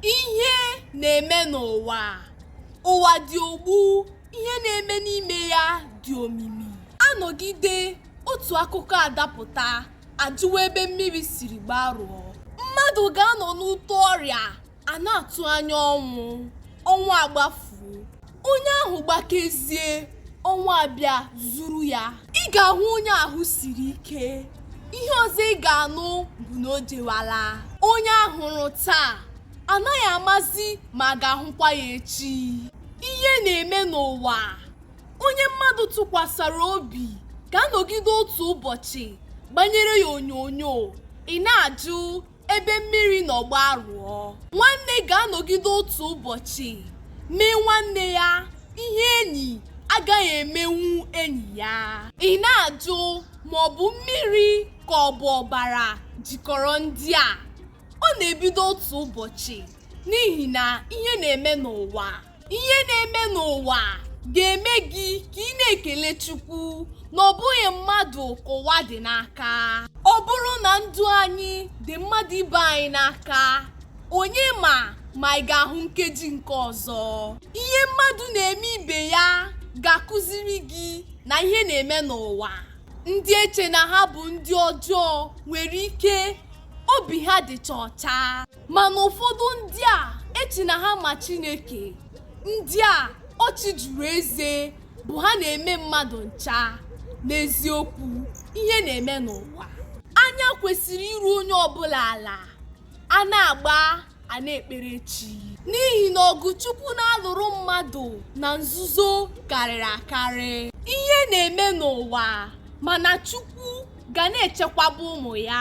ihe na-eme n'ụwa ụwa dị ogbu ihe na-eme n'ime ya dị omimi a nọgide otu akụkọ adapụta a jụwa ebe mmiri siri gbarụọ mmadụ ga-anọ n'ute ọrịa a na-atụ anya ọnwụ ọnwụ agbafuo Onye ahụ gbakezie, ọnwụ abịa zuru ya. Ị ga-ahụ onye ahụ siri ike. Ihe ọzọ ị ga-anụ bụ na o jewala. Onye a hụrụ taa anaghị amazi ma a ga-ahụkwa ya echi. Ihe na-eme n'ụwa. Onye mmadụ tụkwasara obi ga-anọgide otu ụbọchị gbanyere ya onyonyo. Ị na-ajụ ebe mmiri nọ gbarụọ nwanne ga-anọgide otu ụbọchị mee nwanne ya ihe enyi agaghị emenwu enyi ya ị na-ajụ ma ọ bụ mmiri ka ọ bụ ọbara jikọrọ ndị a ọ na-ebido otu ụbọchị n'ihi na ihe na-eme n'ụwa ihe na-eme n'ụwa ga-eme gị ka ị na-ekele chukwu na ọ bụghị mmadụ ka ụwa dị n'aka ọ bụrụ na ndụ anyị dị mmadụ ibe anyị n'aka onye ma ma ị ga-ahụ nkeji nke ọzọ ihe mmadụ na-eme ibe ya ga-akụziri gị na ihe na-eme n'ụwa ndị eche na ha bụ ndị ọjọọ nwere ike obi ha dịcha ọcha mana ụfọdụ ndị a eche na ha ma chineke ndị a ọchị juru eze bụ ha na-eme mmadụ ncha n'eziokwu ihe na-eme n'ụwa anya kwesịrị iru onye ọbụla ala a na-agba a na-ekpere chi n'ihi na ọgụ chukwu na-alụrụ mmadụ na nzuzo karịrị akarị ihe na-eme n'ụwa mana chukwu ga na-echekwaba ụmụ ya